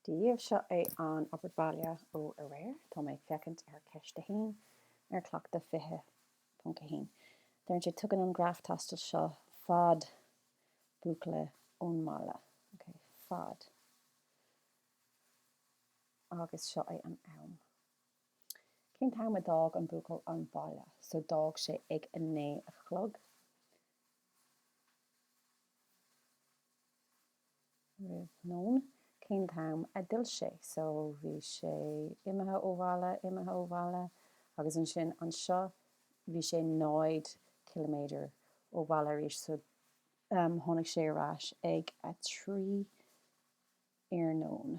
Daoibh seo é an obair bhaile ó aréir. Tá mé ag féachaint ar cheist 1 ar Cleachtadh 20.1. Deireann sé, Tugann an graf taistil seo fad buachalla ón mbaile. Ok, fad. Agus seo é an am. Cén t-am a d'fhág an buachaill an baile? So d'fhág sé ag a naoi a chlog. Roimh nóin cén t-am a d'fhill sé. So bhí sé imithe ó bhaile, imithe ó bhaile agus ansin anseo bhí sé 0 ciliméadar ó bhaile arís. So um tháinig sé ar ais ag a trí iarnóin.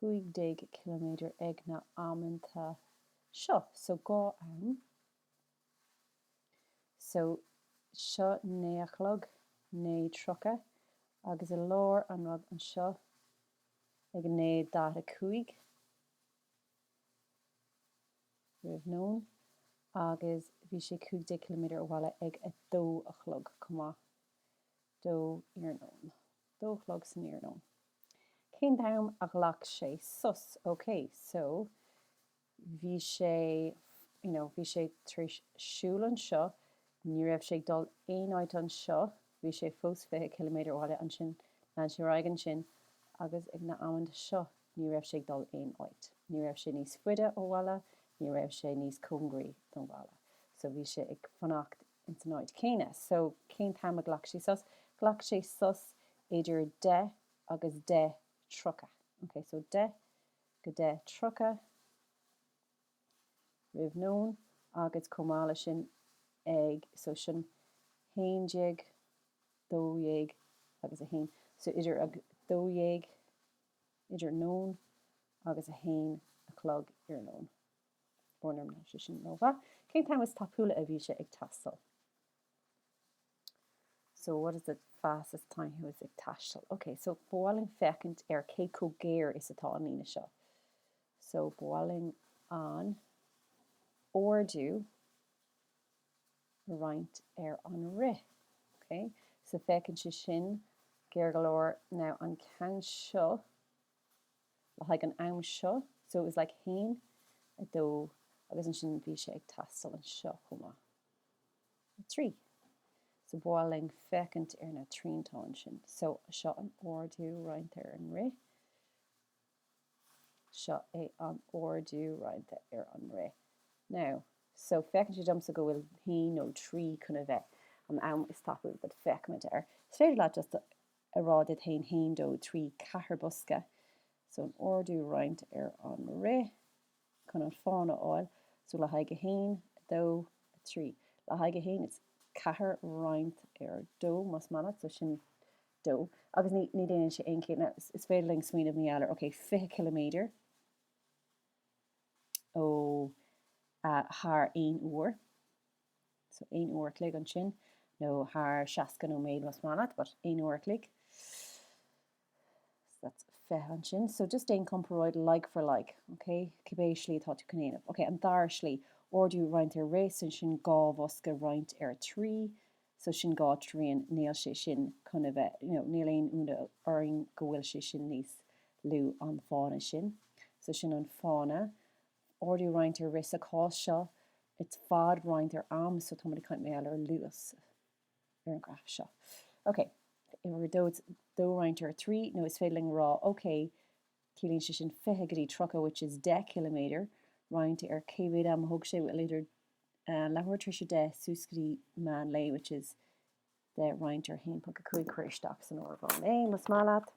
15 km ag na amanta seo. So dhá am. So seo naoi a chlog, 9:30, agus i lár an rud anseo ag 9:45, roimh nóin, agus bhí sé 15 km ó bhaile ag a dó a chlog chomh maith. dó iarnóin. dó a chlog san iarnóin. Cén t-am a ghlac sé sos? OK, so bhí sé, you know, bhí sé tar éis siúl anseo, ní raibh sé ag dul aon áit anseo, bhí sé fós fiche ciliméadar ó bhaile, ansin lean sé ar aghaidh ansin agus ag na amanta seo ní raibh sé ag dul aon áit, ní raibh sé níos faide ó bhaile, ní raibh sé níos cóngaraí don bhaile. So bhí sé ag fanacht ins an áit chéanna. So, cén t-am a ghlac sé sos? Ghlac sé sos idir 10:00 agus 10:30. Ok, so 10:00 go 10:30 roimh nóin agus chomh maith le sin ag, so sin haon déag, dó dhéag agus a haon. So idir a dó dhéag idir nóin agus a haon a chlog iarnóin. Ó an rang a sé sin romhat. Cén t-am is tapúla a bhí sé ag taisteal? So what is the fastest time he was ag taisteal? Ok, so ba mhaith linn féachaint ar cé chomh géar is atá an líne seo. So ba mhaith linn an ardú a roinnt ar an rith. Ok, so féachann sé sin géar go leor. Now an ceann seo, le haghaidh an am seo, so it was like haon, a dó, agus ansin bhí sé ag taisteal anseo chomh maith, a trí. So ba mhaith linn féachaint ar na triantáin sin. So seo an ardú roinnte ar an rith, seo é an ardú roinnte ar an rith. Now, so féachann sé domsa go bhfuil haon nó trí chun a bheith an am is tapúla, but féachfaimid air. Is féidir leat just earráid 1 haon dó trí ceathair bosca so an ardú roinnt ar an rith chun an fána a fháil so le haghaidh 1, 2, 3. Le haghaidh 1, it's ceathair roinnt ar dó más maith leat so sin dó agus ní ní dhéanann sé aon chiall now is féidir linn smaoineamh ní fheadar ok fiche ciliméadar ó thar aon uair. so aon uair a chloig ansin nó thar seasca nóiméad más maith leat but aon uair a chloig so that's fiche ansin so just déan comparáid like for like ok cibé slí atá tú chun é a dhéanamh ok an dara slí ardú roinnt ar rith so sin dhá bhosca roinnt ar a trí so sin dhá trian níl sé sin chun a bheith you know níl aon ionadh orainn go bhfuil sé sin níos lú ná an fána sin so sin an fána Ardú roinnt ar rith sa chás seo it's fad roinnt ar am, so táimid ag caint mar gheall ar luas ar an ghraf seo. Ok, uimhir dó it's dó roinnt ar trí, nó is féidir linn a rá, ok, ciallaíonn sé sin 20 go dtí 30, which is 10 ciliméadar, roinnt ar cé mhéad ama a thóg sé, well, idir an leathuair tar éis 10 suas go dtí meán lae, which is 10 roinnt ar 1.5, cuir isteach san áireamhán é, más maith leat.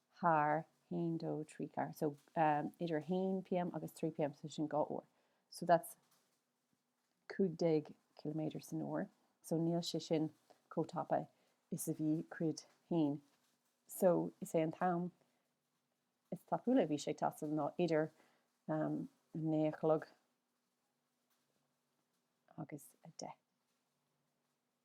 thar haon, dó, trí, ceathair, so idir 1 pm agus 3 pm, so sin dhá uair, so that's 15 ciliméadar san uair, so níl sé sin chomh tapa is a bhí cuid haon, so is é an t-am is tapúla a bhí sé ag taisteal ná idir a naoi a chlog agus a deich.